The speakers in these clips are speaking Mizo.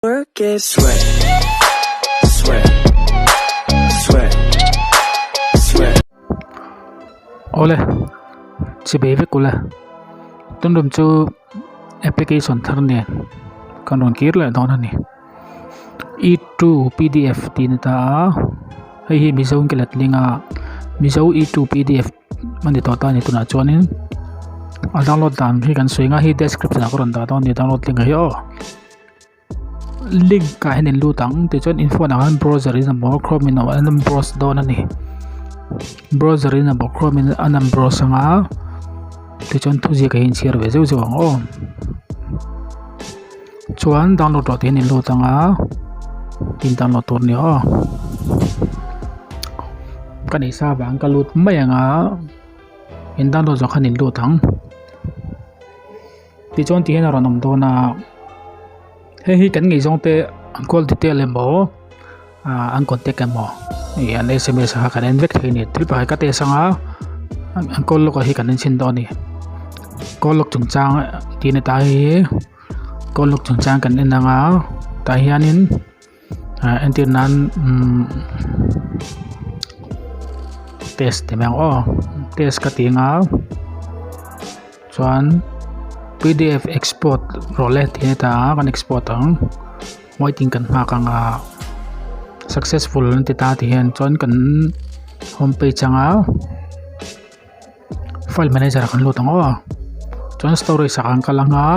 Work it. Sweat, sweat, sweat, sweat. Aw le, chhi be vek u la. Tun rum chu application thar nen kan rawn kir leh dawn a ni. E2 pdf tih ni ta a, hei hi Mizo Inkelet link a, Mizo E2 pdf a ni tawh ta ni tunah chuanin a download dan hi kan sawi nga, hei hi description ah ka rawn dah dawn a ni download link hi aw. link ah hian in lut ang tichuan in phone ah khan browser in a bawr chrome in a awh a lan browse dawn a ni browser in a bawh chrome in a lan browse ang a tichuan thuziak ah hi a inchhir ve zeuh zeuh ang aw chuan download tawh tih hian in lut ang a tin download tur ni aw ka nih sa avang ka lut mai ang a in download zawh khan in lut ang. Ti chuan ti hian a rawn awm dawn a hei hi kan ngei zawng te an call ti tel em aw ah an contact em aw ih an sms a kan en vek thei a ni thil pahat ka test anga an call log ah hi kan en chhin dawn a ni call log chungchang tih a ni ta hi call log chungchang kan en anga tah hianin-- Entir nan test ti mai ang aw test ka ti anga chuan pdf export rawh leh tih a heta a kan export ang waiting kan nghak anga successful an ti ta a ti hian chuan kan home page anga. file manager ah kan lut ang aw chuan storage ah kan kal ang a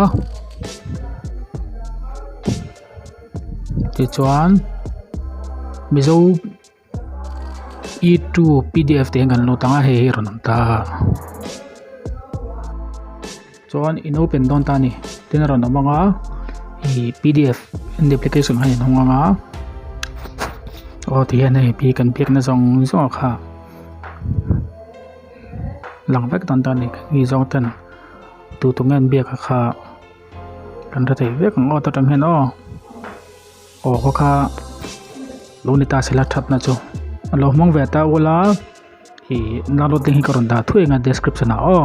tichuan mizo e two pdf tih ang kan lut ang a hei hi a rawn awm ta. Chuan in open dawn ta ni tina rawn awm anga hei pdf and application khan in hawng anga aw tihian hei pi kan biak na zawng zawng kha lang vek dawn ta ni mi zawng ten tu tu ngen biak kha kan hre thei vek ang awt aṭang hian aw aw khaw kha lo ni ta sila that na chu a lo hmang ve ta ula hei download link hi ka rawn dah thuai anga description ah aw.